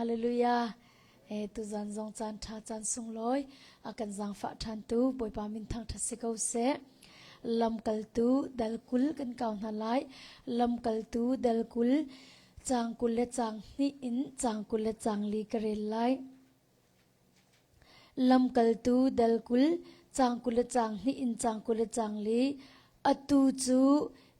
Hallelujah. E tu zan zong caan tha caan sunglawi a kan zangfah than tu Bawipa min thang tha si ko se. Lamkal tu dal kul kan kau hna lai. Lamkal tu dal kul cang kul le cang hni in cang kul le cang li ka rel lai. Lamkaltu dal kul, caang kul le caang hnih in caang kul le caang li, atu cu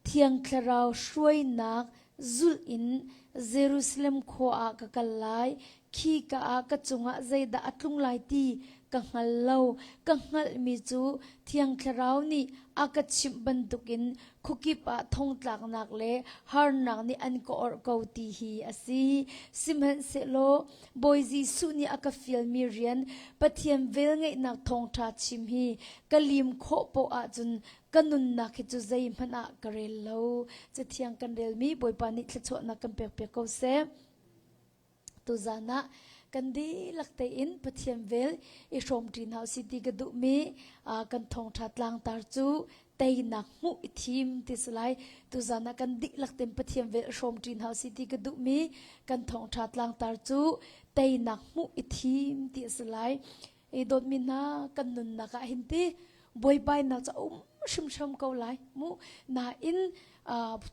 Thiang Thlarau hruainak zulh in Jerusalem khua ah ka kal lai. Khi ka ah ka cungah zeidah a tlung lai ti ka hngal lo. Ka hngalhmi cu Thiang Thlarau nih a ka chimh bantukin khukip ah thongtlaknak le harnak nih an ka orh ko ti hi a si. Sihmanhsehlaw Bawi Jesuh nih a ka fialmi rian Pathian velngeihnak thawngṭha chim hi ka lim khawh poh ahcun ka nunnak hi cu zeihmanh ah ka rel lo. Cathiang kan relmi Bawipa nih thluachuahnak kan pekpiak ko seh. Tuzan ah kan dihlak tein Pathian vel i hrawmṭi hna usih ti ka duhmi kan thawngṭha tlangtar cu teinak hmuh i thim ti si lai tuzan ah kan dihlak ten pathian vel hrawm ṭin hau si ti ka duhmi kan thawngṭha tlangtar cu teinak hmuh i thim ti a si lai i dawtmi hna kan nunnak ah hin ti buaibainak ca um hrimhrim ko lai mu nain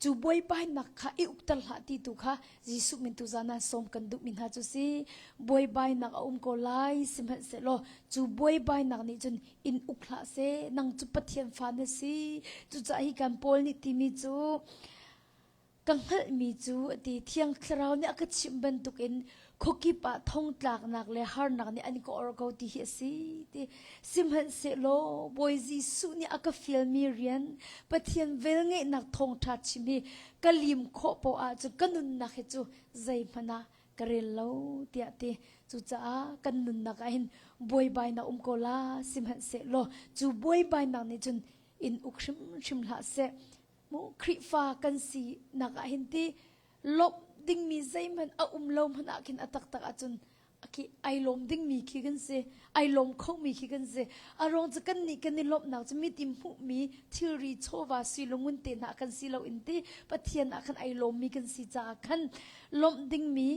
cu buaibainak kha i ukter hlah ti tu kha Jesuh min tu zanan som kan duh mi hna cu si buaibainak a um ko lai sihmanhsehlaw cu buaibainak nih cun in uk hlah seh nang cu pathian fa na si cucah hi kan paul nih timi cu ka hngalhmi cu a ti thiang thlarau nih a ka chimh bantukin khokip ah thong tlaknak le harnak nih an ka or ko ti hi a si ti sihmanhsehlaw bawi jesuh nih a ka fialmi rian pathian velngeihnak thawngtha chim hi ka lim khawh poah cu ka nunnak hi cu zeihmanh ah ka rel lo tiah ti cucaah kan nunnak ah hin buaibai na um ko la sihmanhseh law cu buaibainak nih cun in uk hrimhrim hlah seh mu Khrihfa kan si nak ah hin ti lawmh dingmi zeihmanh a um lo hmanh ah khin a taktak ahcun aki ai lawm dingmi khi kan si ai lawm khomi khi kan si a ruang cu kan nih kan i lawmhnak cu mitim hmuhmi thilri chawva si lungun te hna kan si lo in ti pathian ah khan ai lawmmi kan si caah khan lawmh dingmi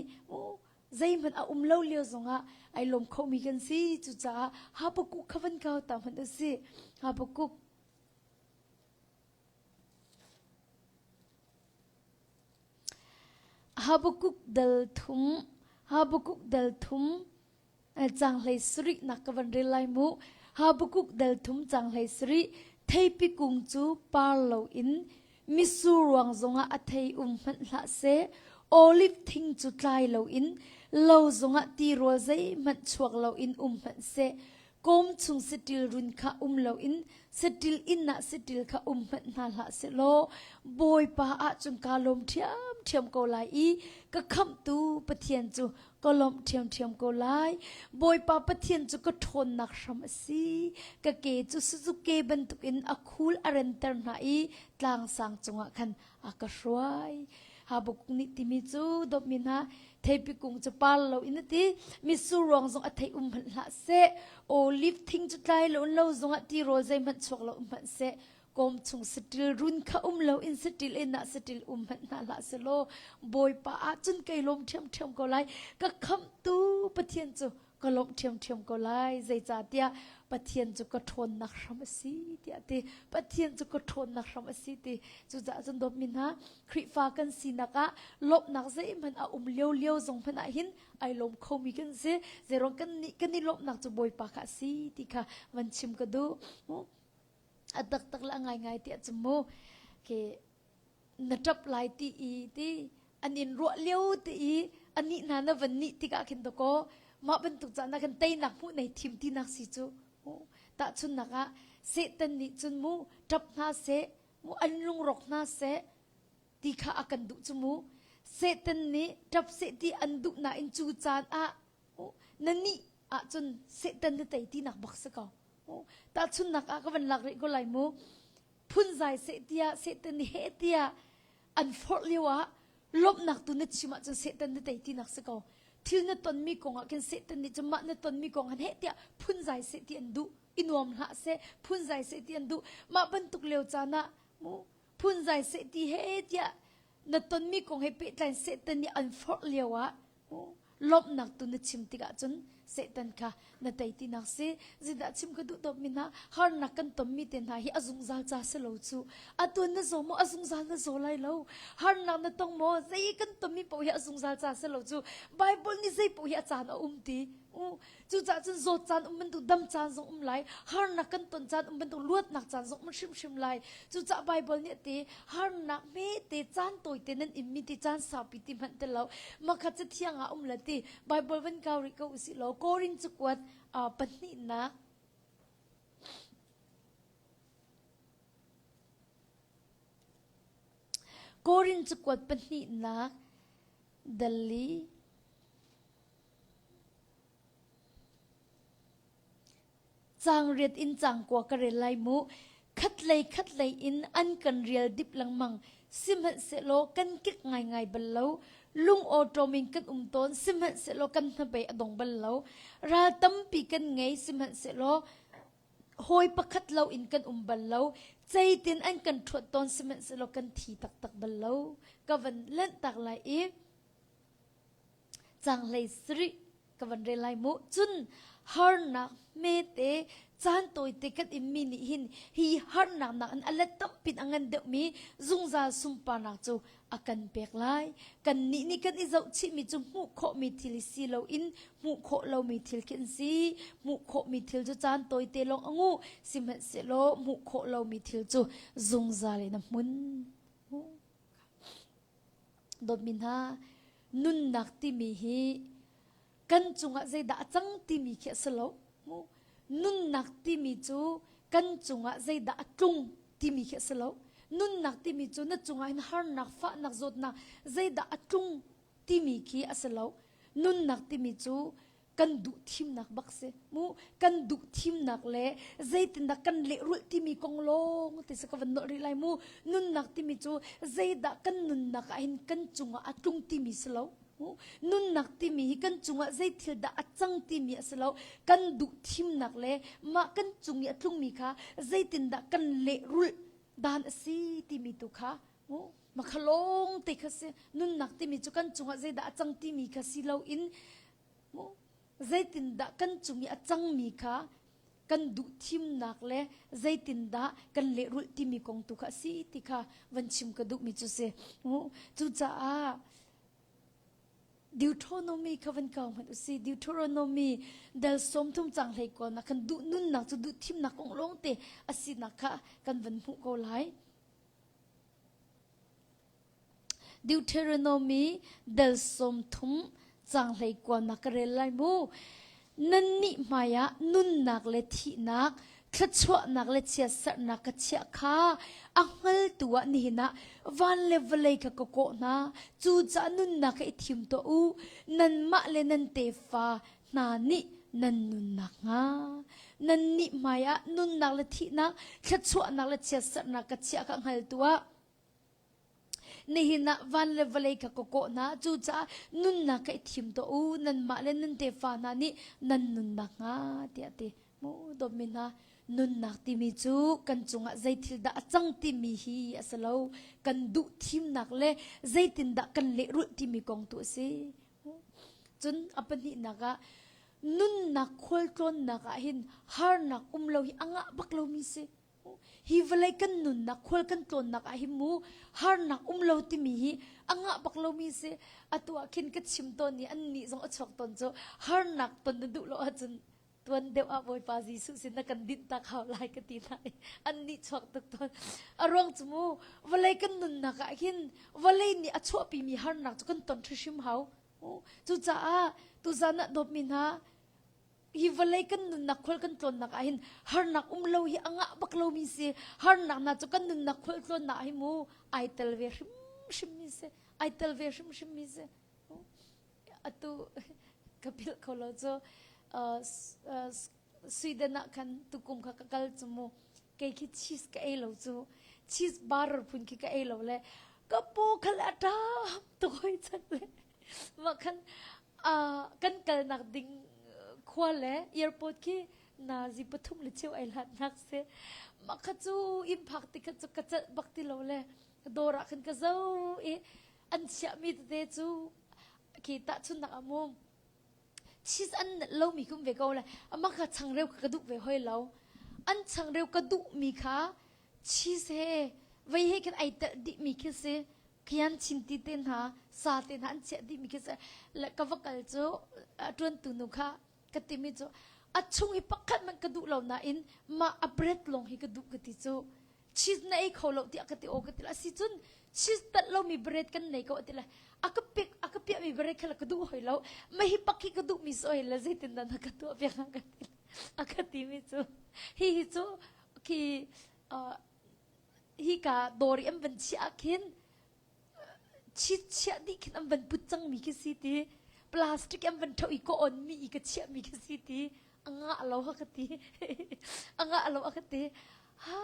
zeihmanh a um lo lio zongah ai lawm khomi kan si cucaah hapakuk khavan kau ta hman a si hapakuk Habakuk dal thum Habakuk dal thum Canghlei sarih nak ka van rel lai mu. Habakuk dal thum canghlei sarih theipi kung cu par lo in misur ruang zongah a thei um hmanh hlah se oliv thing cu tlai lo in lo zongah ti rual zeihmanh chuak lo in um hmanh se kom chung setil run kha um lo in setil in na setil kha um hmanh hna hlah se law bawipa ah cun ka lawm ṭhiam ṭhiam ko lai i ka khamtu pathian cu ka lawmh ṭhiamṭhiam ko lai. Bawipa Pathian cu ka ṭhawnnak hram a si. Ka ke cu Suzuke bantukin a khul a renter hna i tlangsang cungah khan a ka hruai. Habuk nih timi cu dawpmi hna theipi kung cu par loin a ti mitsur ruang zong a thei um hmanh hlah seh oliv thing cu tlai lo in lo zongah tirawl zeihmanh chuak lo hmanh seh Kawm chung satil run kha um lo in satil in ah satil um hmanh hna hlah se law bawipa ah cun kei lawm ṭhiamṭhiam ko lai ka khamhtu Pathian cu ka lawm ṭhiamṭhiam ko lai zeicahtiah Pathian cu ka ṭhawnnak hram a si tiah ti Pathian cu ka ṭhawnnak hram a si ti cucaah cun dawtmi hna Khrihfa kan sinak ah lawmhnak zeihmanh a um lio lio zong hmanh ah hin ai lawm khomi kan si zeiruang kan nih kan i lawmhnak cu bawipa kha a si ti kha van chim ka duh a taktak la ngaingai tiah cu mu ke na ṭap lai ti i ti an in ruah lio ti i anih hna na van nih tikah khin to kaw mah bantuk caan ah khan teinak hmuh nei thim tinak si cu tahchunnak ah Satan nih cun mu ṭap hna seh mu an lungrawk hna seh ti kha a kan duh cu mu Satan nih ṭap seh ti an duh nain cu caan ah Aw, na nih ahcun Satan na tei tinak bak si ko. Aw, tahchunnak ah ka van lak rih ko lai mu. Phunzai seh tiah Satan ni he tiah an forh lio ah lawmhnak tu na chim ahcun Satan na tei tinak si ko. Thil na tonmi kong ah khin Satan nih cun mah na tonmi kong han he tiah phunzai seh ti an duh. I nuam hlah seh, phunzai seh ti an duh. Mah bantuk lio caan ah mu phunzai seh ti he tiah na tonmi kong he pehtlain Satan nih an forh lio ah Lawmhnak tu na chim tikah cun Satan kha na tei ti nak si. Zindah chim ka duh tawpmi hna harnak kan tonmi te hna hi a zungzal ca si lo cu. Atu na zaw maw a zungzal na zaw lai lo. Harnak na tong maw zei kan tonmi poh hi a zungzal ca si lo cu. Bible nih zei poh hi a caan a um ti. Uh, Cucaah cun zawt caan um bantuk, dam caan zong um lai, harnak kan ton caan um bantuk, luatnak caan zong um hrimhrim lai. Cucaah Baibal nih te harnak hmete caan tawite nan immi ti caan saupi ti hmanh te lo. Makhat cu thiang ah um la ti Baibal van kau rih ko usih law Korin cu kuat uh, pahnihnak Korin cu kuat pahnihnak dali Caang riat in cangkua ka rel lai mu. Khatlei khatlei in an kan rial dip lengmang. Sihmanhsehlaw kan kik ngaingai bal lo. Lung awṭawm in kan um tawn. Sihmanhsehlaw kan hnabei a dong bal lo. Ral tampi kan ngei. Sihmanhsehlaw hawi pakhat lo in kan um bal lo. Zeitin an kan ṭhuat tawn sihmanhsehlaw kan thi taktak bal lo. Ka van lanh tak lai i, cang hlei sri ka van rel lai mu cun harnak mete caan tawite kan immi nih hin hi harnak nak in alet tampin angan deuhmi zungzal sunparnak cu akan pek lai kan nih nih kan i zohchihmi cu hmuh khawhmi thil i si lo in hmuh khawh lomi thil khi an si hmuh khawhmi thil cu caan tawite lawng angu sihmanhsehlaw hmuh khawh lomi thil cu zungzal in a hmun Dawtmi hna, nunnak timi hi kan cungah zeidah a cang timi khi a si lo. Nunnak timi cu kan cungah zeidah a tlung timi khi a si lo. Nunnak timi cu na cungah hin harnak, fahnak, zawtnak zeidah a tlung timi khi a si lo. Nunnak timi cu kan duh thimnak bak si mu kan duh thimnak le zeitindah kan lehrulh timi kong lawng te sa ka van nolh rih lai mu nunnak timi cu zeidah kan nunnak ah hin kan cungah a tlung timi si lo nunnak timi hi kan cungah zei thil dah a cang timi a si lo kan duh thimnak le mah kan cung i a tlungmi kha zeitindah kan lehrulh dan a si timi tu kha Makha lawng te kha si nunnak timi cu kan cungah zeidah a cang timi kha si loin zeitindah kan cung i a cangmi kha kan duh thimnak le zeitindah kan lehrulh timi kong tu kha a si ti kha van chim ka duhmi cu si. Cucaah Deuteronomy kha van kau hmanh u si. Deuteronomy dal sawm thum cang hlei ko na kan duh nunnak cu duh thimnak kong lawngte a sinak kha kan van hmuh ko lai. Deuteronomy dal sawm thum cang hlei kuang na ka rel lai mu. Nannih hmaiah nunnak le thihnak, thluachuahnak le chiatsarhnak ka chiah kha a hngaltu ah nihin ah van le vawlei kha ka kawh hna. Cucaah nunnak kha i thim tuah u. Nanmah le nan tefa hna nih nan nunnak hnga nannih hmaiah nunnak le thihnak thluachuahnak le chiatserhnak ka chiah ka hngal tuah nihin ah van le vawlei ka ka kawh hna cucaah nunnak ka i thim tuah u nanmah le nun tefa hna nih nan nunnak hnga tiah ti mu dawmi hna nunnak timi cu kan cungah zeithil dah a cang timi hi a si lo kan duh thimnak le zeitindah kan lehrulh timi kong tu a si Cun a pahnihnak ah nunnak khualtlawnnak ah hin harnak um lo hi a ngah bak lomi si. Hi vawlei kan nunnak khual kan tlawnnak ah hin mu harnak um lo timi hi a ngah bak lomi si. Atu ah khin ka chim tawn i annih zong a chuak tawn cu harnak ton na duh lo ahcun tuan deuh ah Bawipa Jesuh sin na kan dinh tak hau lai ka ti lai an nih chuak tuk tawn a ruang cu mu vawlei kan nunnak ah hin vawlei nih a chuahpi mi harnak cu kan ton hrim hau cucaah tuzan ah dawpmi hna hi vawlei kan nunnak khol kan tlawnnak ah hin harnak um lo hi angah bak lo mi si harnak na cu kan nunnak khol tlawnnak hi mu ai tel ve hrim hrim mi se ai tel ve hrim hrim mi se atu ka philh kho lo cu Sweden ah khan tukum kha ka kal cu mu kei khi cheese ka ei lo cu cheese bar phun khi ka ei lo le ka pu khal atam to hoi chan le ma khan kan kal nak ding khua le airport khi na zi pathum le cheu ai hlat nak se ma kha cu in phak ti kha cu ka cal bak ti lo le dawr ah khan ka zo i an chiahmi tete cu khi tahchunnak a mum cheese an nat lomi kum ve ko le ama kha changreu ka duh ve hoi lo an changreu ka duhmi kha cheese he vei he khin ai tel dihmi khi si khian chinti te hna sa te hna an chiah dihmi khi si le ka va kal cu ṭuantu nu kha ka timi cu a chung i pakhat man ka duh lo nain mah a bread lawng hi ka duh ka ti cu cheese na ei kho lo tiah ka ti o ka ti lo asi cun cheese tat lomi bread kan nei ko a ti le a ka pick a ka piah mi bread kha la ka duh hoi lo ma hi pak hi ka duh mi so la zeitin dan ka tuah ve ka ti a ka ti mi cu hi hi cu khi uh, hi ka dori an van chi ah khin chichiah dih khin an van put cangmi khi si ti plastic an van ṭho i ka onmi i ka chiahmi khi si ti a ngah lo ha ka ti a ngah lo a ka ti ha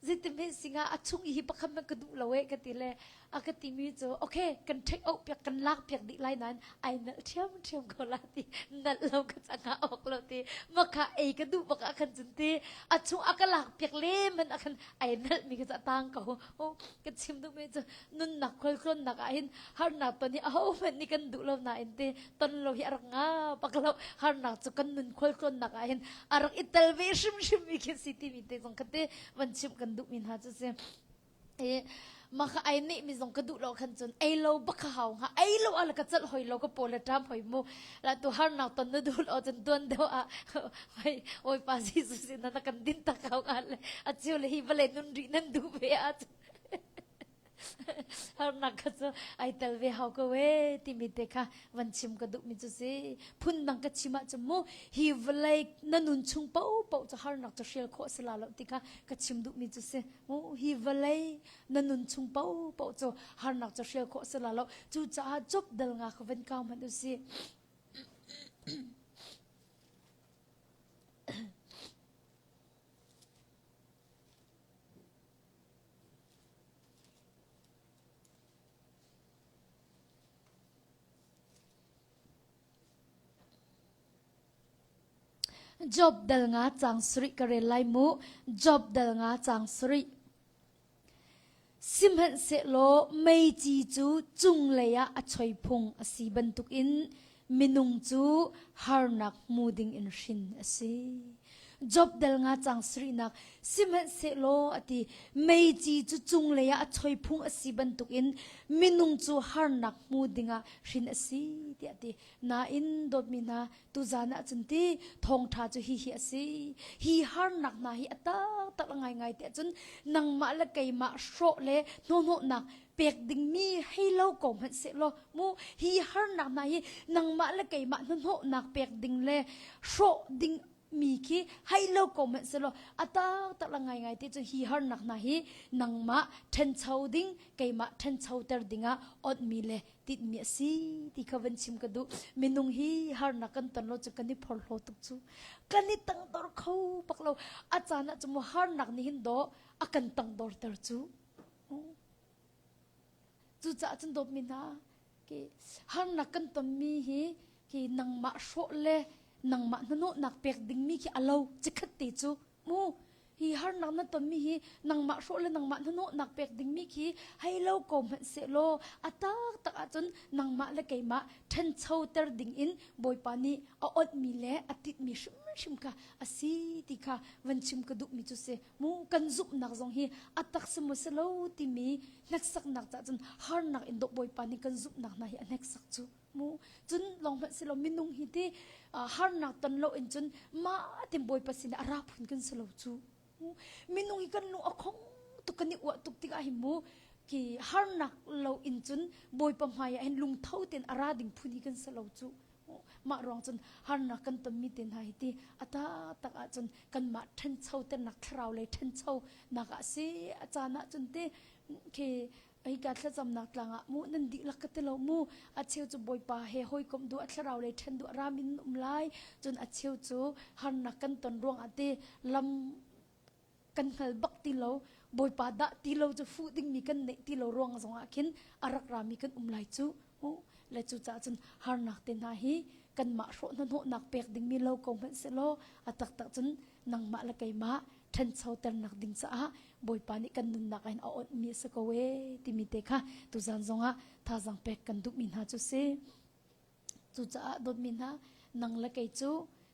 zeitimhe singa a chung i pakhat man ka duh lo e ka ti le a ka ti mi cu okay kan ṭheck out piak kan lak piak dih lai nan ai nal ṭhiam ṭhiam ko la ti nal lo ka changa ok lo ti maka ei ka duh bak a khan cun ti a chung a ka lak piak le man a khan ai nal mi ka cha tang ko oh kan chim duhmi cu nunnak khualtlawnnak ah hin harnak ton hi ahohmanh nih kan duh lo nain te ton lo hi a rak nga bak lo harnak cu kan nun khualtlawnnak ah hin a rak i tel ve hrimhrim mi khi si timi te zong kate van chim kan duhmi hna cu si e maka ai ni mi zong ka duh lo khan cun ei lo baka hau nga ei lo ala ka chal hoi lo ka pole tam hoi mu Latu harnak ton na dul o cun tuan deuh ah hoi Bawipa Jesus in na kan din tak hau nga le achiu le hi vale nun ri nan duh ve a cun harnak kha cu ai tel ve hau ko e timi te kha van chim ka duh mi cu si phun dang ka chim ah mu hi vlei na nun chung po po ca harnak ca hrial kho asila lo ti kha ka chim duh mi cu si mu hi vlei na nun chung paohpaoh cu harnak cu hrial khawh a si la lo cucaah cup dal nga kha van kau hmanh u si job dal nga cang suri ka rel lai mu job dal nga cang suri Sihmanhsehlaw meici cu cunglei ah a choi phung a si bantukin minung cu harnak hmu dingin hrin a si. Job dal nga cang sarihnak sihmanhsehlaw a ti meici cu cunglei ah a choi phung a si bantukin minung cu harnak hmu dingah hrin a si tiah a ti. Nain dawtmi hna, Tuzan ah cun ti thawngtha cu hi hi a si hi harnak hna hi a taktak a ngaingai te cun nangmah le keimah hrawh le hnawhnawhnak pek dingmi hei lo ko hmanh se law mu hi harnak hna hi nangmah le keimah hnawhnawhnak pek ding le hrawh ding mi khi hai lo ko hmanh se law a taktak la ngai ngai te cu hi harnak hna hi nangmah ṭhencho ding keimah ṭhencho ter dingah ot mi le tinhmi a si ti kha van chim ka duh minung hi harnak kan ton lo cu kan i phorhlaw tuk cu kan i tangdor kho bak lo a caan ah cu mu harnak nih hin do a kan tangdor ter cu cucaah cun dawtmi hna ke harnak kan tonmi hi ke nangmah hrawh le nangmah hnanuhnak pek dingmi khi a lo cikhat te cu mu hi harnak na tonmi hi nangmah hrawh le nangmah hnahnawhnak pek dingmi khi hei lo ko hmanh sehlaw a taktak ahcun nangmah le keimah ṭhancho ter dingin Bawipa nih a onhmi le a titmi hrimhrim kha a si ti kha van chim ka duhmi cu si mu kan zumhnak zong hi a tak si maw si lo timi hneksaknak cahcun harnak in dawh Bawipa nih kan zumhnak hna hi a hneksak cu hmu cun long hmanh silo minung hi ti harnak ton lo in cun ma tim bawipa sinah ra phun kan silo cu minung hi kan lung a khong tuk kan i uah tuk tikah hi mu ki harnak lo in cun bawipa hmai ah hin lungtho ten ara ding phun hi kan salo cu mah ruang cun harnak kan tonmi te hna hi ti ata tak ah cun kan mah ṭhencho te nak thlarau lei ṭhencho nak ah si a caan ah cun ti khi Eika thlacamnak tlang ah mu nan dihlak ka ti lo mu. A cheu cu Bawipa he hawikomh duh a thlarau lei ṭhen duh ram in um lai. Cun a cheu cu harnak kan ton ruangah ti lam kan hngal bak ti lo. Bawipa dah ti lo cu fuh dingmi kan neih ti lo ruang zongah khin a rak rami kan um lai cu. Hmuh. Le cucaah cun harnak te hna hi kanmah hrawh hnahnawhnak pek dingmi lo ko hmanh sehlaw a taktak cun nangmah le keimah ṭhanchoternak ding caah Bawipa nih kan nunnak in a awnhmi a si ko e timi te kha tuzan zongah thazang pek kan duhmi hna cu si. Cucaah dawtmi hna nang le kei cu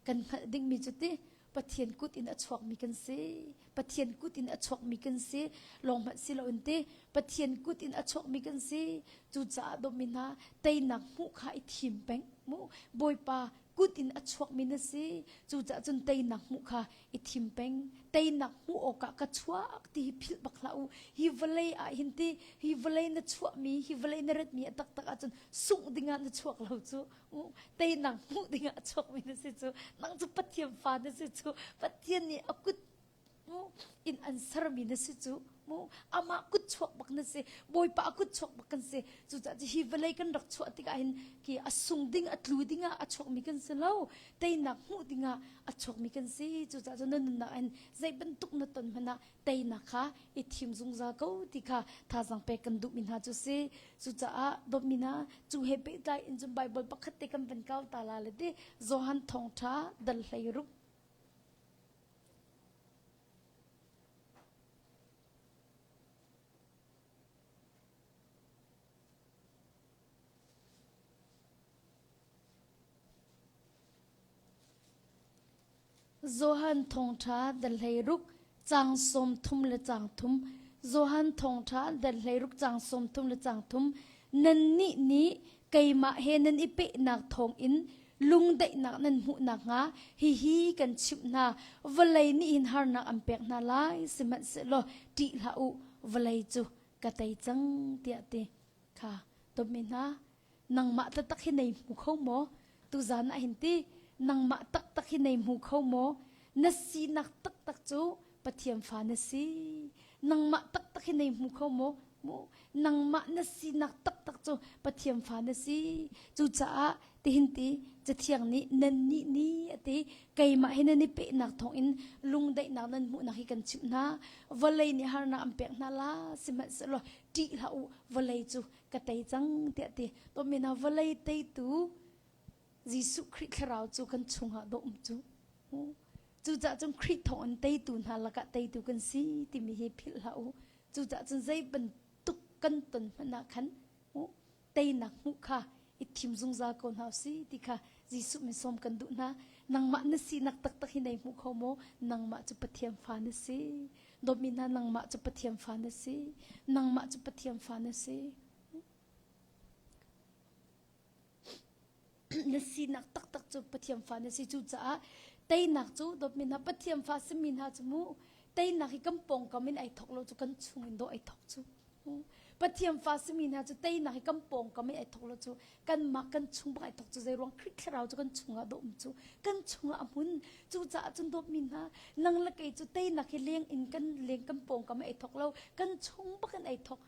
kan hngalh dingmi cu ti Pathian kut in a chuakmi kan si. Pathian kut in a chuakmi kan si. Lawng hmanh si loin ti Pathian kut in a chuakmi kan si. Cucaah dawtmi hna teinak hmuh kha i thim peng. Bawipa kut in a chuakmi na si cucaah cun teinak hmuh kha i thim peng teinak hmuh awkah ka chuak ti hi philh bak hlah u hi vawlei ah hin ti hi vawlei na chuahmi hi vawlei na ratmi a taktak ahcun sungh dingah na chuak lo cu teinak hmuh dingah a chuakmi na si cu nang cu pathian fa na si cu pathian nih a kut mu inn an sermi na si cu mu amah kut chuak bak na si bawipa kut chuak bak kan si cucaah cu hi vawlei kan rak chuah tikah hin ki a sung ding a tlu dingah a chuakmi kan si lo teinak hmuh dingah a chuakmi kan si cucaah cu na nunnak in zei bantuk na ton hmanah teinak kha i thim zungzal ko ti kha thazang pek kan duhmi hna cu si cucaah dawtmi hna cu he pehtlai in cun baibal pakhat te kan van kau ta la le ti Johan thawngtha dal hlei rup Johan thawngṭha da hleiruk cang sawm thum le cang thum Johan thawngṭha da hleiruk cang sawm thum le cang thum Nannih nih keimah he nan i pehnak thawngin Lungdaihnak nan hmuh nakhnga hihi kan chimh hna: vawlei nih hin harnak an pek hna lai, sihmanhsehlaw ṭih hlah u, vawlei cu ka tei cang, tiah ti kha tummi hna, nangmah taktak hi nei hmu kho maw? Tuzan ah hin ti, nangmah taktak hi nei hmu kho maw? Na sinak taktak cu Pathian fa na si nangmah taktak hi nei hmu kho maw mu nangmah na sinak taktak cu Pathian fa na si cucaah tihin ti cathiang nih nan nih ni a ti keimah hi nan i pehnak thawngin lungdaihnak nan hmuhnak hi kan chimh hna vawlei nih harnak an pek hna la sihmanhsehlaw ṭih hlah u vawlei cu ka tei cang tiah ti to mina vawlei teitu Jesuh Khrih thlarau cu kan chungah dawh um cu cucah cun Khrih thawng in teitu hna lakah teitu kan si timi hi philh hlah u cucah cun zei bantuk kan ton hmanh ah khan teinak hmuh kha i thim zungzal ko hna u si ti kha Jesuh min sawm kan duh hna nangmah na sinak taktak hi nei hmu kho maw nangmah cu Pathian fa na si dawmi hna nangmah cu Pathian fa na si nangmah cu Pathian fa na si Na sinak taktak cu Pathian fa na si cucaah teinak cu dawtmi hna Pathian fa simi hna cu mu teinak hi kan pawngkam in ai thawk lo cu kan chung in dawh ai thawk cu Pathian fa simi hna cu teinak hi kan pawngkam i ai thawk lo cu kanmah kan chung bak ai thawk cu zei ruang Khrih thlarau cu kan chungah dawm cu kan chungah a hmun cucaah cun dawtmi hna nang le kei cu teinak hi leng in kan leng kan pawngkam ai thawk lo kan chung bak in ai thawk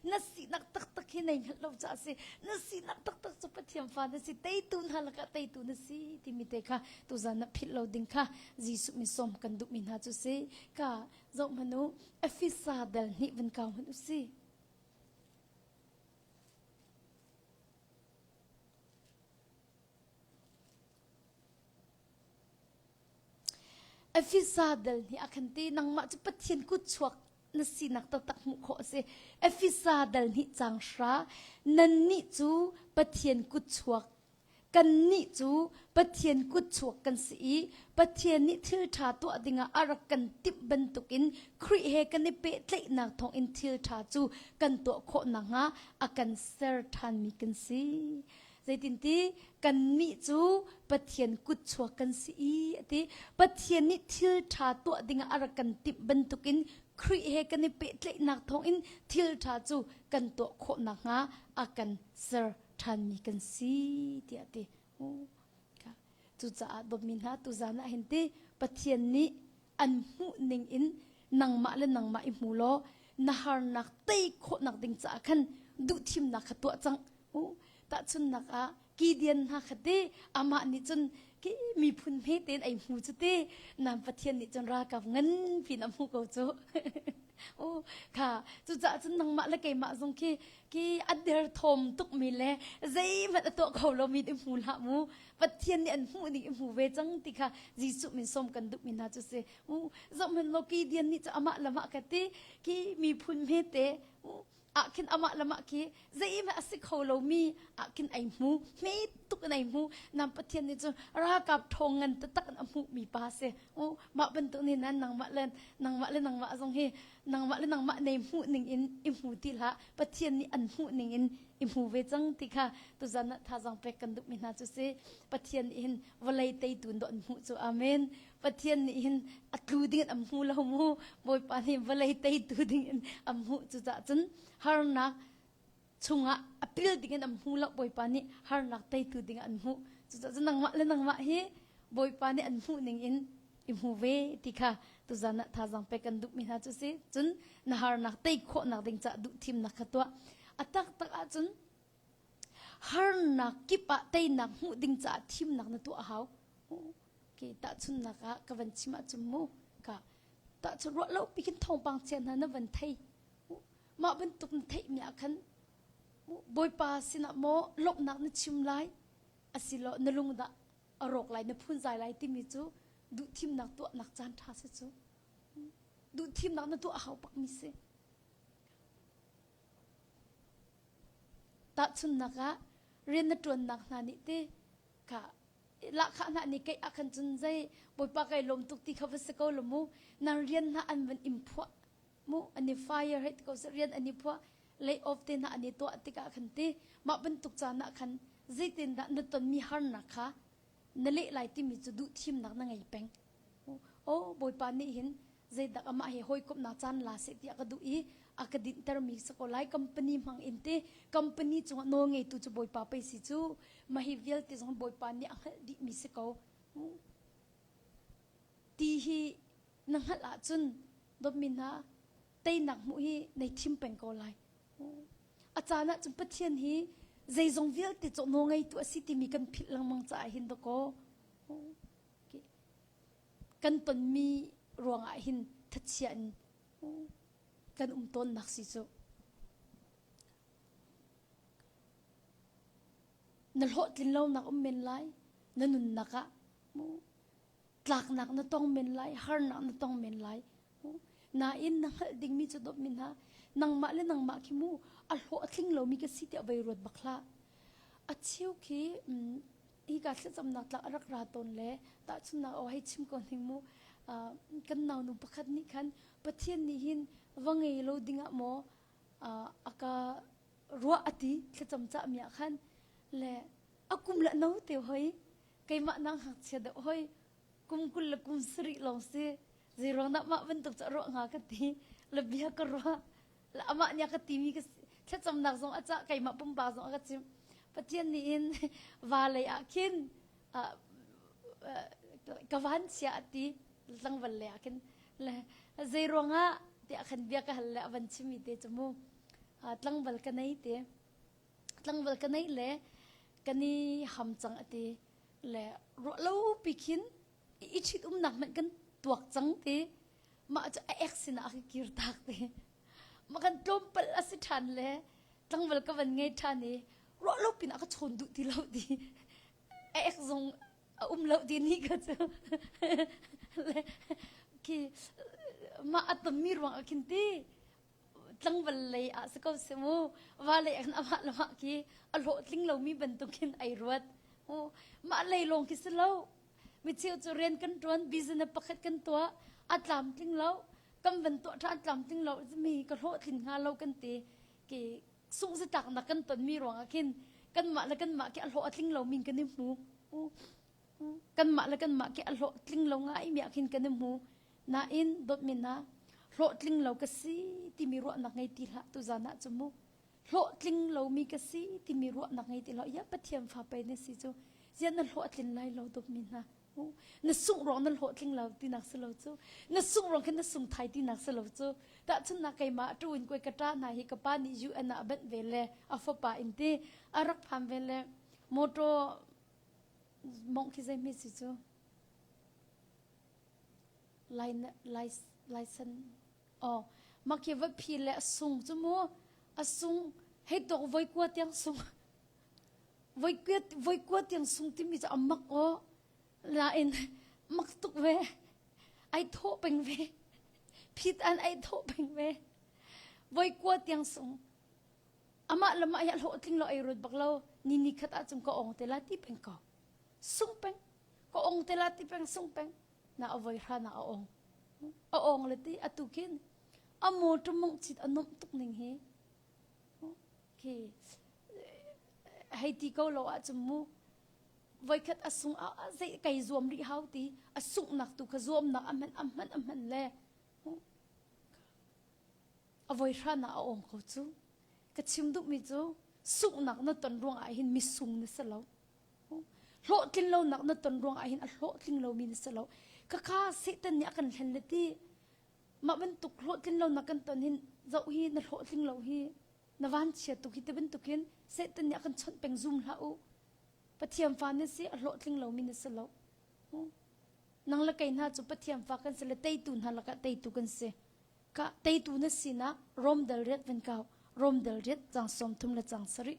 na sinak taktak hi nei hngalh lo caah a si na sinak taktak cu pathian fa na si teitu hna lakah teitu na si timi te kha tuzan na philh lo ding kha jesuh mi som kan duhmi hna cu si ka zoh hmanu efisa dal nih van kau hman u si efisa dal nih a khan ti nangmah cu pathian kut chuak na sinak taktak hmuh khawh a si. Efesa dal nih cang hra, nannih cu Pathian kutchuak, kannih cu Pathian kutchuak kan si i Pathian nih thilṭha tuah dingah a rak kan timh bantukin Khrih he kan i pehtlaihnak thawngin thilṭha cu kan tuah khawh nakhnga a kan ser ṭhanmi kan si. Zeitinti? Kannih cu Pathian kutchuak kan si i a ti. Pathian nih thil ṭha tuah dingah a rak kan timh bantukin Khrih he kan i pehtlaihnak thawngin thil ṭha cu kan tuah khawh nakhnga a kan ser ṭhanmi kan si tiah a ti. Cucaah dawtmi hna, tuzan ah hin ti Pathian nih an hmuhning in nangmah le nangmah i hmu law na harnak tei khawhnak ding caah khan duhthimnak kha tuah cang u tahchunnak ah kidian hna kha ti amah nih cun ki miphun hme tein ei hmu cu ti nam pathian nih cun rakap ngan pin a hmu ko cu u kha cucaah cun nangmah le keimah zong khi ki a derthawm tukmi le zeihmanh a tuah kho lomi i hmu hlah mu Pathian nih an hmuh ning i hmu ve cang ti kha Jesuh min som kan duhmi hna cu si u zohhmanh law ki dian nih cu amah lamah ka ti ki miphun hmete u ahkhin amah lamah ki zeihmanh a si kho lomi ahkhin ai hmu hme tuk in ai hmu nam pathian nih cu ralkap ṭhawng ngan taktak in a hmuhmi pa a si u mah bantuk nih nan nangmah le nangmah le nangmah zong hi nangmah le nangmah nei hmuh ningin i hmu ti hlah pathian nih an hmuh ningin i hmu ve cang ti kha tuzan ah thazang pek kan duhmi hna cu si pathian nih hin vawlei teitu ndo an hmuh cu amen pathian nih hin a tlu dingin am hmu lo mu bawipa nih vawlei teitu dingin am hmuh cucah cun harnak chungah a pil dingin an hmu lo bawipa nih harnak teitu dingah an hmuh cucaah nangmah le nangmah hi bawipa nih an hmuh ning in i hmu ve ti kha tuzan ah thazaang pek kan duhmi hna cu si cun na harnak tei khawhnak ding caah duh thimnak kha tuah a taktak ahcun harnak kip ah teinak hmuh ding caah thimnak na tuah a hau ke tahchunnak ah ka van chim ahcun mu ka tahchun ruah lo pikin thawngpang chia hna na van thei Mah bantuk na theihmi ah khan Bawipa sinah maw lawmhnak na chim lai asilaw na lung dah a rawk lai na phunzai lai timi cu duhthimnak tuahnak caan ṭha si cu duhthimnak na tuah a hau pakmi si tahchunnak ah rian na ṭuannak hna nih ti ka lahkhah hna nih kei ah khan cun zei Bawipa kai lawm tuk ti kha va si ko law mu nan rian hna an van im phuah Hmuh an i fire hei ko seh rian an i phuah lay off te hna an i tuah tikah khan ti mah bantuk caan ah khan zeitindah na tonmi harnak kha na leh lai timi cu duh thimnak na ngei peng o bawipa nih hin zeidak amah he hawikomhnak caan la seh ti a ka duh i a ka dinhtermi sa ko lai company hmang in te company cungah nawl ngeitu cu bawipa pei si cu mahi vialte zong bawipa nih a hngalh dihmi si ko ti hi na hngalh ahcun dawtmi hna teinak hmuh hi nei thim peng ko lai. A caan ah cun Pathian hi zeizong vialte cu nawl ngeitu a si timi kan philh lengmang caah hin dakaw kan tonmi ruangah hin thachia in kan um tawnnak si cu. Na hlawhtlin lonak um men lai na nunnak ah tlaknak na tong men lai, harnak na tong men lai. Nain na hngalh dingmi cu dawp mi hna, nangmah le nangmah khi mu a hlawh a tling lomi ka si tiah vei ruat bak hlah. A chiu khi hi ka thlacamnak tlak a rak ra tawn le tahchunnak aw hei chim ko hni mu. kan naunu pakhat nih khan Pathian nih hin va ngei lo dingah maw a ka ruah a ti thlacam cahmi ah khan le a kum le no te hoi keimah nang hngakchia deuh hoi kum kul le kum sarih lawng si zeiruang dah mah bantuk cu ruah hnga ka ti la bia ka ruah la amah nia ka ti mi ka thlacamnak zong a cah keimah pumpa zong a ka chim pathian nih in va lei ah khin ka van chia ati tlangval le ah khin le zei ruangah tiah khan bia ka hal le avan chimi te chu mu tlangval ka nei te tlangval ka nei le ka ni ham cang ati le ro lo pi khin i chit umnak man kan tuak cang ti ma chu a ek sin a kir tak ti ma kan tlom pal asi than le tlangval ka van ngai than i ro lo pin a ka chon du ti lo ti a ek zong a um lo ti ni ka chu le ki ma atam mi ruang a khin ti tlangval lei ah si ko si mu vale an amah lo hak hi a hlawhtling lomi bantukin ai ruat u mah lei lawng khi si lo mi cheu cu rian kan tuan business pakhat kan tuah a tlamtling lo kan van tuah tha tlamtling lo mi ka hlawhtling nga lo kan ti ki sung si tak na kan ton mi ruang ah khin kan mah le kan mah ki a hlawh a tling lo min kan i hmu u kanmah le kanmah ke a hlawhtling lo ngai mi ah khin kan i hmu nain dawtmin ah hlawhtling lo ka si timi ruahnak ngei ti hlah tu zan ah cu mu hlawhtling lo mi ka si timi ruahnak ngei ti hlah ya pathian fa pei na si cu zian na hlawhtlin lai lo dawtmi hna na sungrong na hlawhtling lo tinak si lo cu na sungrong khin na sung thai tinak si lo cu tahchun na keimah tu in koi kata na hi ka pa nih UN ah banh ve le a fapa in ti a rak pham ve le motor Mawngh khi zei hme si cu? Laisan aw mak hi voi phi le a sung cu mu. A sung hei tok voi kua tiang sung. Voi kua tiang sung timi cu a mak aw. Lain mak tuk ve. Ai thawh peng ve. Phit an ai thawh peng ve. Voi kua tiang sung. Amah lam ah hi hlawhtling lo ei ruat bak lo ni ni khat ah cung ka ong te la ti peng ko sung peng ka ong te la ti peng sung peng na avoi hra na a ong a ong le ti atu kin a motor mong chit anom tuk ning hi khi hei ti ko lo ah chum mu voikhat asung a zei kai zuam ri hau ti asung nak tu ka zuam nak aman aman aman le a voi hran ah a awm ko cu. Ka chim duhmi cu sunghnak na ton ruang ah hin misung na si lo. Hlawhtlin lonak na ton ruang ah hin a hlawhtling lomi na si lo. Khakha Satan nih a kan hlen le ti mah bantuk hlawhtlin lonak kan ton hin zoh hi na hlawhtling lo hi na vanchia tuk hi ti bantukin Satan nih a kan chawnh peng zum hlah u. Pathian fa na si a hlawhtling lomi na si lo. Nang le kei hna cu Pathian fa kan si le teitu hna lakah teitu kan si. Kah teitu na sinak Rom dal riat van kau. Rom dal riat cang sawm thum le cang sarih.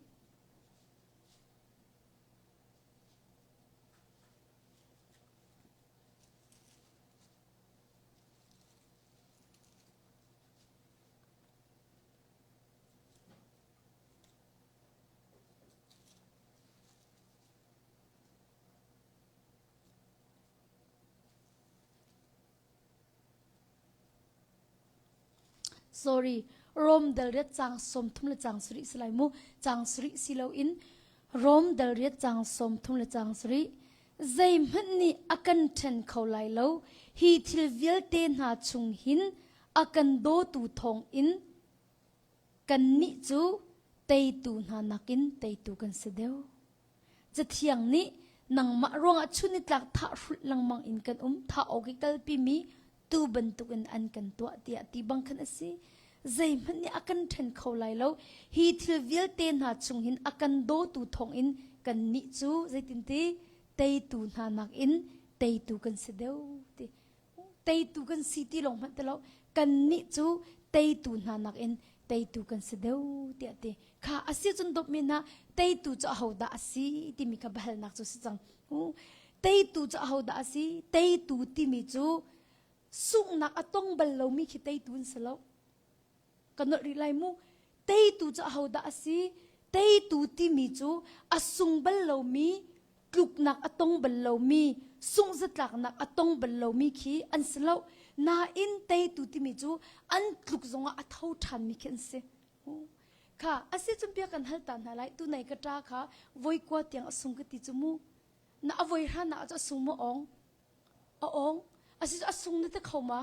Sorry, Rome dalriat cang sawmthum le cang sarih si lai mu. Cang sarih si loin Rome dalriat cang sawmthum le cang sarih. Zeihmanh nih a kan ṭhen kho lai lo. Hi thil vialte hna chung hin a kan dawtu thawng in kannih cu teitu hna nakin teitu kan si deuh. Cathiang nih nangmah ruangah chunitlak thahhrulh lengmang in kan um thah awk i kalpimi tuu bantukin an kan tuah tiah ti bang khan a si zeihmanh nih a kan ṭhen kho lai lo hi thil vialte hna chung hin a kan dawtu thawngin kannih cu zeitinti teitu hna nakin teitu kan si deuh ti teitu kan si ti lo hmanh ti lo kannih cu teitu hna nakin teitu kan si deuh tiah ti kha a si cun dawpmi hna teitu cu ahodah a si timi kha bahalnak cu si cang teitu cu ahodah a si teitu timi cu sunghnak a tong bal lomi khi teitu an si lo Ka nolh rih lai mu. Teitu cu ahodah a si? Teitu timi cu a sung bal lomi, tluknak a tong bal lomi, sunghzatlaknak a tong bal lomi khi an si lo. Nain teitu timi cu an tluk zongah a tho ṭhanmi khi an si. Kha a si cun bia kan hal ta hna lai. Tunai ka ṭa kha voi kua tiang a sung ka ti cu mu. Na a voi hranah cu a sung maw? Awng. A awng. Asicu a sung na ti kho ma?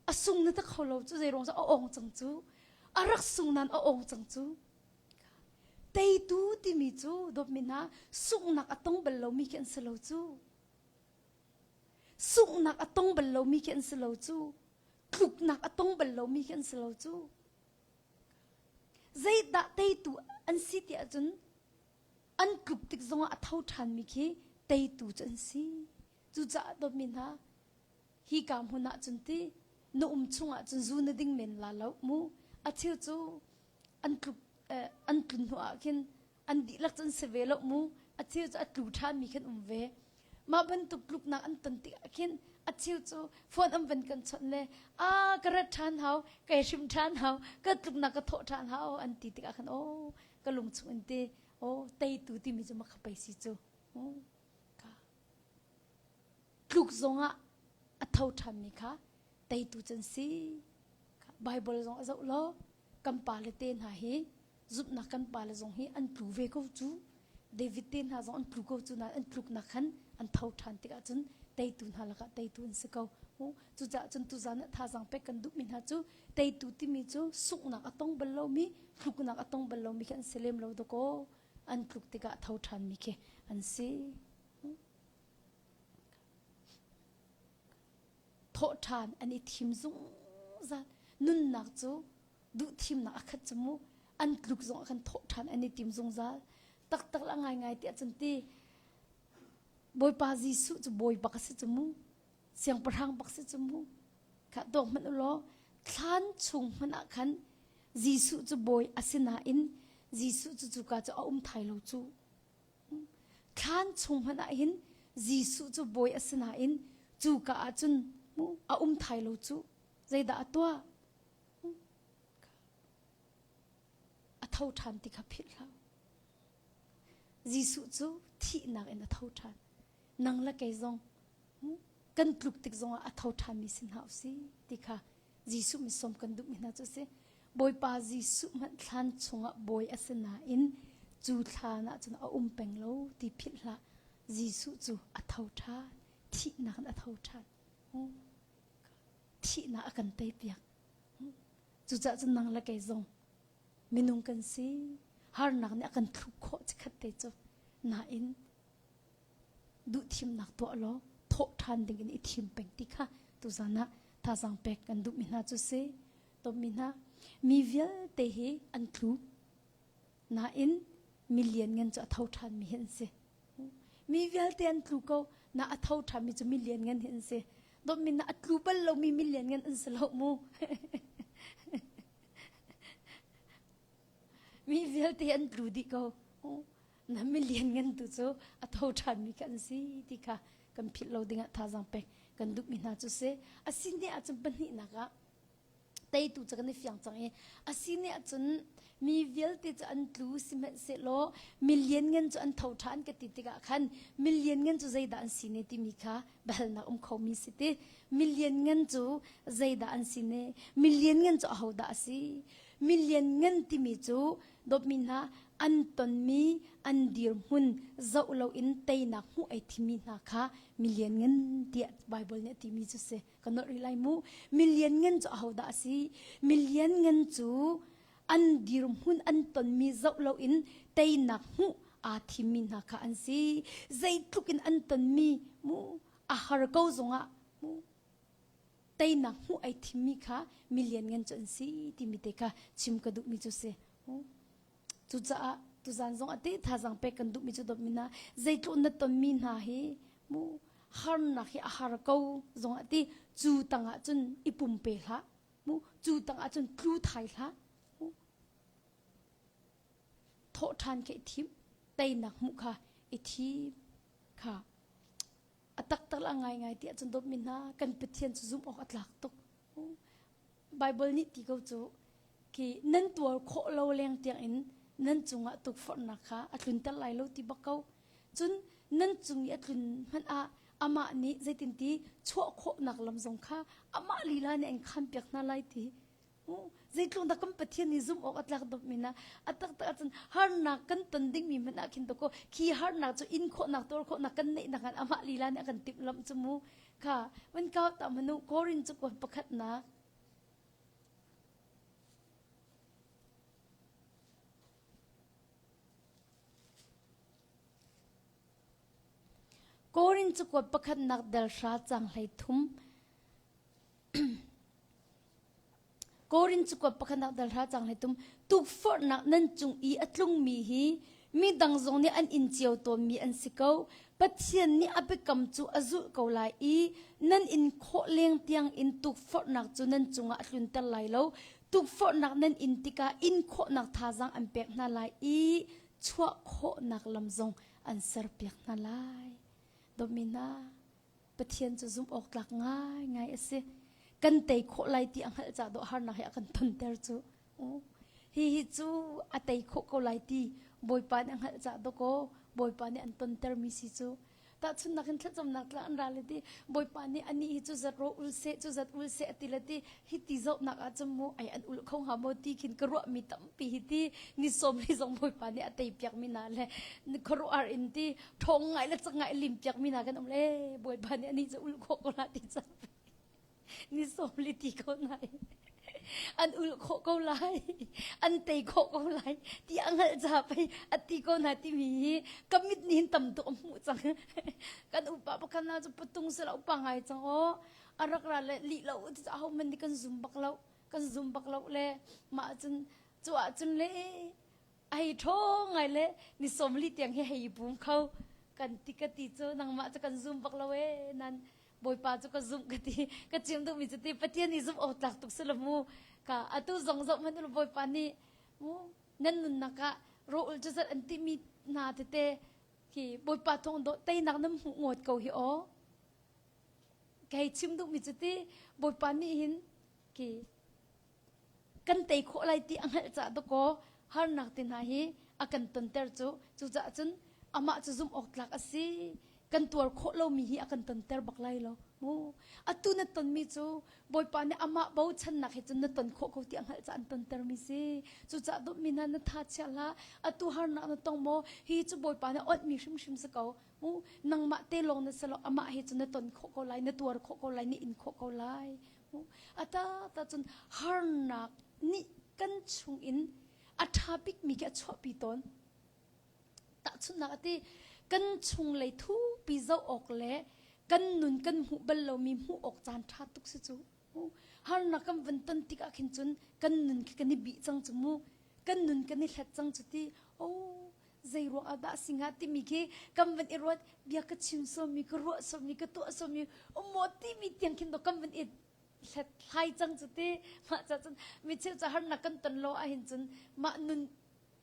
A sung na ta kho lo cu zei ruang a ong cang cu a rak sung nan a ong cang cu teitu timi cu dawtmin ha sunghnak a tong bal lomi khi an si lo cu sunghnak a tong bal lomi khi an si lo cu tluknak a tong bal lomi khi an si lo cu zeidah teitu an si ti ahcun an tlup tik zongah a tho ṭhanmi khi teitu cu an si. Cucaah dawtmi hna, hi ka hmun ah cun ti na um chungah cun zu na ding men la lo mu. A cheu cu an tlup an tlun hnu ah khin an dihlak cu an si ve lo mu. A cheu cu a tlu ṭhanmi khin um ve. Mah bantuk tluknak an ton tikah khin a cheu cu phone an van kan chawnh le a ka rat ṭhan hau, kai hrim ṭhan hau, ka tluknak ka thawh ṭhan hau an ti tikah khan aw ka lung chungin te aw teitu timi cu maka pei si cu ka tluk zongah a tho ṭhanmi kha teitu can si Bible zong a zoh law kan pale te hna hi zumhnak kan pale zong hi an tlu ve ko cu David te hna zong an tlu ko cu na an tluknak khan an tho ṭhan tikah cun teitu hna lakah teitu an si ko cucaah cun tuzan thazaang pek kan duhmi hna cu Teitu timi cu sunghnak a tong bal lomi, hluknak a tong bal lomi khi an si lem lo dakaw. An tluk tikah a tho ṭhanmi khi an si. Thawh ṭhan an i thim zungzal. Nunnak cu duhthimnak a khat cu mu. An tluk zong a kan thawh ṭhan an i tim zungzal. Taktak la ngaingai tiah cun ti Bawipa Jesuh cu bawi bak a si cu mu. siangpahrang bak si cu mu kha dawk hmanh u law thlan chung hmanh ah khan Jesuh cu bawi asinain Jesuh cu cuka cu a um thai lo cu thlan chung hmanh ah hin Jesuh cu bawi asinain cuka ah cun a um thai lo cu zeidah a tuah a tho ṭhan ti kha philh hlah Jesuh cu thihnak in a tho ṭhan nang le kei zong kan tluk tik zongah a tho ṭhanmi si hna usih ti kha Jesuh misawm kan duhmi hna cu a si. Bawipa Jesuh hmanh thlan chungah bawi a si nain cu thlan ah cun a um peng lo ti philh hlah. Jesuh cu a tho ṭhan. Thihnak in a tho ṭhan. Thihnak a kan teipiak. Cucaah cun nang le kei zong minung kan si. Harnak nih a kan thluh khawh chikkhat te cu. Nain Duhthimnak tuah law thawh ṭhan dingin i thim peng ti kha tuzan ah thazaang pek kan duhmi hna cu si. Tonmi hna, mi vialte hi an tlu nain mi lianngan cu a tho ṭhanmi hi an si. Mi vialte an tlu ko, na a tho ṭhanmi cu mi lianngan hi an si. Donmi na a tlu bal lomi mi lianngan an si lo mu. mi vialte an tlu dih ko. na million ngan tu cu a tho ṭhanmi kan si ti kha kan philh lo dingah thazaang pek kan duhmi hna cu si a sin ne ahcun pahnihnak ah teitu cu kan i fiang cang i a si ne ahcun mi vialte cu an tlu sihmanhsehlaw million ngan cu an tho ṭhan ka ti tikah khan million ngan cu zeidah an si ne timi kha biahalnak um khomi si ti million ngan cu zeidah an si ne million ngan cu ahodah a si million ngan timi cu dawtmi hna an tonmi an dirhmun zoh loin teinak hmuh ei thimi hna kha million ngan tiah Bible nih a timi cu si ka not rih lai mu million ngan cu ahodah a si million ngan cu an dirhmun an tonmi zoh loin teinak hmuh aa thimmi hna kha an si zeitluk in an tonmi mu a har ko zongah mu teinak hmuh ai thimmi kha mi lianngan cu an si timi te kha chim ka duhmi cu si. Cucaah tuzan zong a te thazang pek kan duhmi cu dawtmi hna zeitluk na tonmi hna hi mu harnak hi a har ko zong ati cu tang ah cun i pumpe hlah mu cu tang ah cun tlu thai hlah mu thawh ṭhan khe thim teinak hmuh kha i thim kha a taktak la ngaingai ti ahcun dawtmi hna kan Pathian cu zumh awk a tlak tuk. Baibal nih ti ko cu ki nan tuar khawh lo leng tiangin nan cungah tukforhnak kha a tlunter lai lo ti bak ko. Cun nan cung i a tlun hmanh ah amah nih zeitinti chuah khawhnak lam zong kha amah lila nih an khampiak hna lai ti Zeitluk dah kan Pathian nih zumh awk a tlak dawpmi na a taktak ahcun harnak kan ton dingmi hmanh ah khin to ko khi harnak cu in khawhnak tuar khawhnak kan neihnak ngan amah lila nih a kan timhlamh cu mu kha wan kau ta manu Korin cu ko pakhatnak Korin cu kuat pakhatnak del hra cang hlei thum Korin cakuat pakhat ah dal hra cang hlei tum tukforhnak nan cung i a tlungmi hi mi dang zong nih an in cio tawnmi an si ko Pathian nih a biakam cu a zulh ko lai i nan in khawh leng tiang in tukforhnak cu nan cungah a tlunter lai lo tukforhnak nan in tikah in khawhnak thazang an pek hna lai i chuah khawhnak lam zong an serpiak hna lai. Domina. Pathian cu zumhawktlak ngaingai a si. Kan tei khawh lai ti a hngalh caah dawh harnak he a kan tonter cu. Hi hi cu a tei khawh ko lai ti Bawipa nih a hngalh caah dawkaw Bawipa nih an tontermi si cu. Tahchunnak in thlacamnak tla an ral i ti Bawipa nih anih hi cu zat rawh u seh cu zat ul seh a ti le ti Hiti zohnak ahcun mu ai an ulh kho hnga maw ti khin ka ruahmi tampi hi ti ni sawmli zong Bawipa nih a tei piakmi hna le khuaruah in ti ṭhawng ngai le cak ngai lim piakmi hna kan um le Bawipa nih anih cu ulh khawh ko hna ti cang ni sawmli ti ko nai an ulh khawh ko lai an tei khawh ko lai ti a hngalh ca pei a ti ko hna timi hi ka mit nih hin tam tuk a hmuh cang kan upa pakhat na cu patung si lo upa ngai cang aw a rak ra le lih lo cucaah hohmanh nih kan zum bak lo kan zum bak lo le mah cun cu ahcun le hei ṭho ngai le ni sawmli tiang hi hei bum kho kan ti ka ti cu nangmah cu kan zum bak lo ee nan bawipa cu ka zumh ka ti ka chim duhmi cu ti pathian i zumh awtlak tuk si lo mu ka atu zong zoh hmanh ulu bawipa nih mu nan nunnak ah roul cu zat an timi hna tete hi bawipa thawng dawh teinak nan hmuh ngawt ko hi aw Kei chim duhmi cu ti Bawipa nih hin ki kan tei khawh lai ti a hngalh caah dakaw harnak ti hna hi a kan tonter cu cucaah cun amah cu zumh awk tlak a si kan tuar khawh lomi hi a kan tonter bak lai lo mu atu na tonmi cu Bawipa nih amah bochannak he cun na ton khawh ko ti a hngalh caah an tontermi si cucaah dawtmi hna na tha chia hlah atu harnak na tong maw hi cu Bawipa nih a onhmi hrimhrim si ko u nangmah te lawng na si lo amah he cun na ton khawh ko lai na tuar khawh ko lai na in khawh ko lai u a ta ta cun harnak nih kan chung in a ṭha bikmi khi a chuahpi tawn tahchunhnak ati kan chung lei thupi zoh awk le kan nun kan hmuh bal lomi hmuh awk caan ṭha tuk si cu harnak kan van ton tik ah khin cun kan nun khi kan i bih cang cu mu kan nun kan i hlet cang cu ti o zei ruang ah dah sing ah timi khi kam van i ruat bia ka chim somi ka ruah somi ka tuah somi um maw timi tiang khin to kam van i hlet hlai cang cu ti mah ca cun mi chil ca har nak kan ton lo ah hin cun mah nun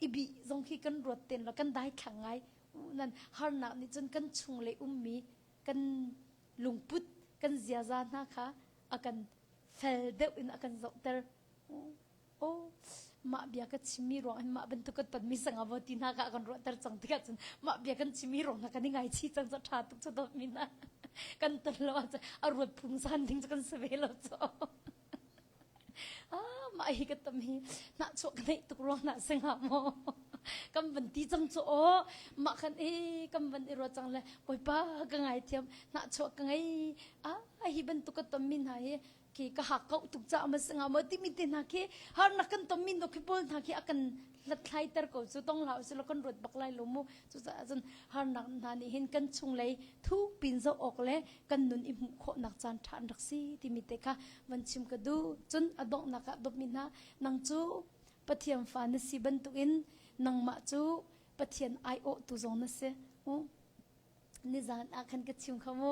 i bi zong khi kan ruat ten lo kan dai thlang ngai u nan har nak nih cun kan chung le ummi kan lungput kan ziaza hna kha a kan fel deuh in a kan zohter oh mah bia ka chimmi ruangin mah bantuk kan tonmi sangah vo ti hna ka kan ruahter cang tikah cun mah bia kan chimmi ruang hna kan i ngaichi cang cu ṭha tuk cu dawtmi hna kan ton lo ahcun a ruat phung san ding cu kan si ve lo cu ah mah hi ka tam hi nah chuah ka neih tuk ruang na singa maw kan van ti cang cu aw mah khan e kan van i ruat cang le bawipa ka ngai thiam nah chuah ka ngei ah hi bantuk ka ton mi hna hi khi ka hak kau tuk ca ma singa ma timi te hna khi har na kan tom min no khi pol hna khi akan hlatthlai ter ko chu tong la su lo kan ruat bak lai lo mu chu sa azun har nak hna ni hin kan chung lei thu pin zo ok le kan nun i mu kho nak chan than rak si timi te kha van chim ka du chun adok na ka dop min ha nang chu pathiam fa na si bantuk in nang ma chu pathian ai o tu zong na se o nizan a khan ka chim khamu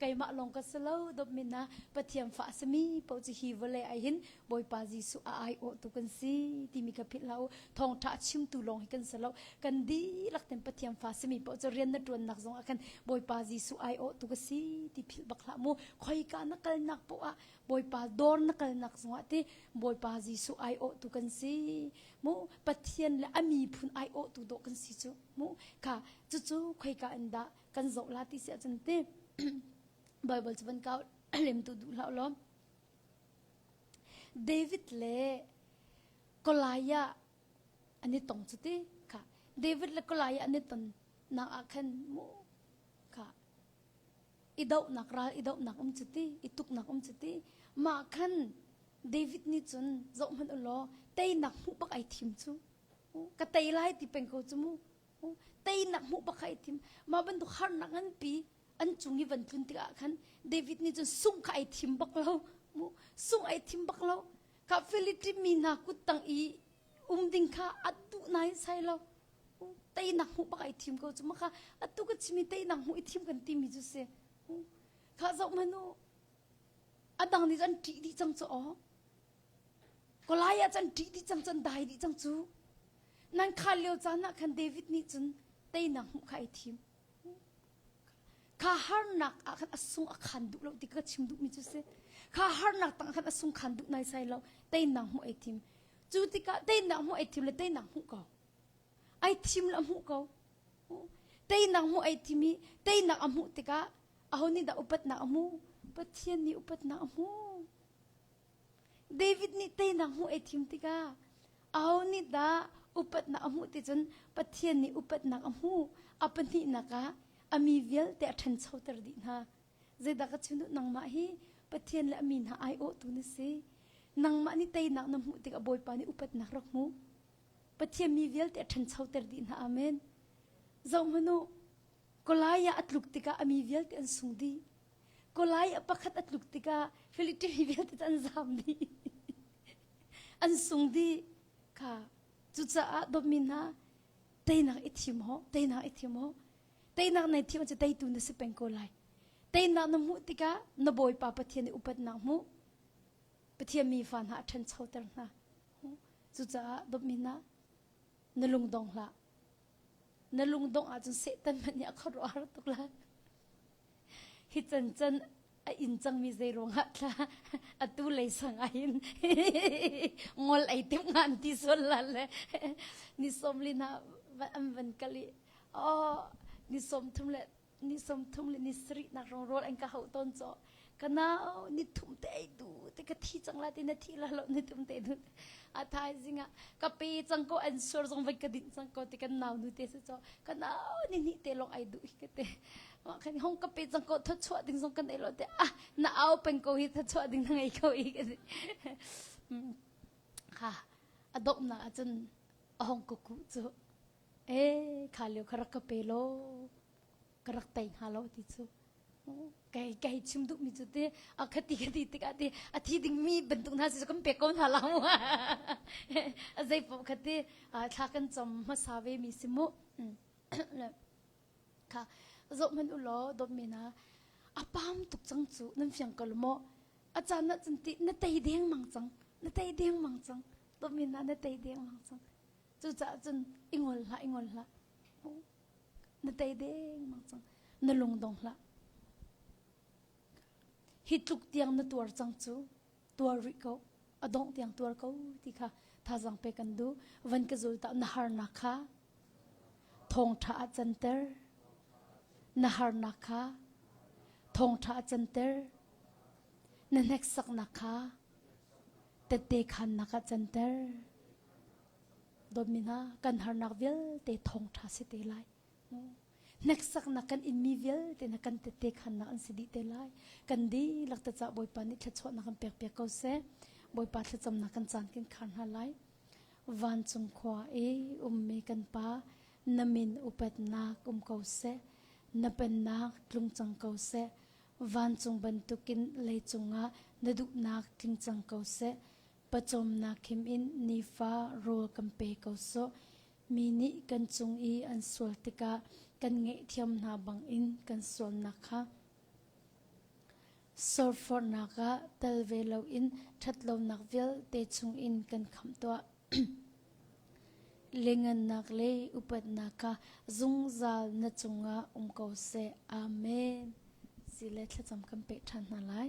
keimah lawng ka si lo dawpmin ah Pathian fa a sami paoh cu hi vawlei ai hin Bawipa Jesuh a aiawh tu kan si timi ka philh hlah u thawngtha chimtu lawng hi kan si lo kan dihlak ten Pathian fa sami paoh cu rian na tuannak zong ah khan Bawipa Jesuh aiawh tu ka si ti philh bak hlah mu khoika na kalnak poh ah Bawipa dawr na kalnak zong ah ti Bawipa Jesuh aiawh tu kan si mu Pathian le a mi phun aiawh tu dawh kan si cu mu kha cucu khoika in dah kan zoh la ti si ahcun ti Bible cu van kau lemtu duh hlah law David le Goliath an i tong cu ti kha David le Goliath an i ton nak ah khan mu kha i dohnak ral i dohnak um cu ti i tuknak um cu ti mah khan David nih cun zoh hmanh u law teinak hmuh bak ai thim cu ka tei lai ti peng ko cu mu teinak hmuh pakai tim ma bantuk harnak an pi an cung i van tlun tikah khan David nih cun sung kha ai thim bak lo mu sung ai thim bak lo ka Philipi mi hna kut tang i um ding kha atu nai sai lo teinak hmuh bak ai thim ko cu maka atu ka chimi teinak hmuh i thim kan timi cu se kha zoh manu adang nih an ṭih dih cang cu aw Kolai ah cun ṭih dih cang cun dai dih cang cu. Nan khaan lio caan ah khan David nih cun teinak hmuh kha ai thim. Kha harnak ah khan a sung a khaan duh lo ti ka chim duhmi cu si. Kha harnak tang khan a sung khaan duh nai sai lo. Teinak hmuh ai thim. Cu tikah teinak hmuh ai thim le teinak hmuh ko. Ai thim le a hmuh ko. Teinak hmuh ai thim i teinak a hmuh tikah aho nih dah upatnak a hmuh? Pathian nih upatnak a hmuh. David nih teinak hmuh ei thim tikah aho nih dah upatnak a hmuh ti cun Pathian nih upatnak a hmuh. A pahnihnak ah a mi vialte a ṭhanchoter dih hna. Zeidah ka chim duh nangmah hi Pathian le a mi hna aiawhtu na si. Nangmah nih teinak na hmuh tikah Bawipa nih upatnak rak hmuh. Pathian mi vialte a ṭhanchoter dih hna. Amen. Zohhmanh u, Goliath a tluk tikah a mi vialte an sung dih. Kulai a pakhat a tluk tikah Philistine mi vialte cu an zaam dih. an sung dih. Kha cucaah dawtmi hna teinak i thim hawh, teinak i thim hawh. Teinak nei thim cu teitu na si peng ko lai. Teinak na hmuh tikah na Bawipa Pathian i upatnak hmuh. Pathian mi fa hna a ṭhanchoter hna. Cucaah dawtmi hna, na lungdong hlah. Na lungdong ahcun Satan hmanh nih a khuaruahhar tuk lai. hi can can a in cangmi zei ruangah thla atu lei sang ah hin ngol ei tim ngan ti sol la le ni som li na an van kali o ni som thum le ni som thum le ni sri nak rong rol an ka hau ton cho kanau ni thum te ei du te ka thi chang la ti na thi la lo ni thum te du a thai zinga ka pe chang ko an sur zong vai ka din chang ko te kan nau nu te se cho kanau ni ni te long ai du ka te kan hong ka pe cang ko thawchuah ding zong kan ei lo te ah na au pen ko hi thawchuah ding na ngei ko i kan ha adop na acun ahong kuku cu e kha leo ka rak ka pe lo ka rak tei hna lo ti cu kai kai chim duh mi cu te a khati khati tikah te a thi ding mi bantuk hna si kan pe ko hna la mu a zei pom khati thla kan chom hmasa ve mi si mu Kha zoh hmanh u law dawt men ah a pam tuk cang cu nan fiang ko maw a caan ah cun ti na tei dengmang cang na tei dengmang cang dawt men ah na tei dengmang cang cucaah cun i ngol hlah i ngol hlah na tei dengmang cang na lung dong hlah hi tluk tiang na tuar cang cu tuar rih ko a dongh tiang tuar ko ti kha thazang pe kan du van ka zul ta na harnak kha thongtha a canter na harnak kha thongtha a canter na hneksaknak kha tette khannak a canter domina kan harnak vialte thongtha si te lai hneksaknak kan inmi vialte na kan tete khannak an si dih te lai kan dihlak ta ca bawipa nih thluachuahnak kan pek piak ko seh bawipa thlacamnak kan caan kan khar hna lai vancung khua i ummi kan pa na min upatnak um ko seh na pennak tlung cang ko seh vancung bantukin lei cungah na duhnak tling cang ko seh pacawmnak khim in nifa rawl kan pe ko seh Mi nih kan cung i an sual tikah kan ngaihthiam hna bangin kan sualnak kha sorfornak ah tel ve loin ṭhatlonak vialte chungin kan khamh tuah. Lengannak le upatnak kha zungzal na cungah um ko seh. Amen. Si le thlacam kan peh ṭhan hna lai.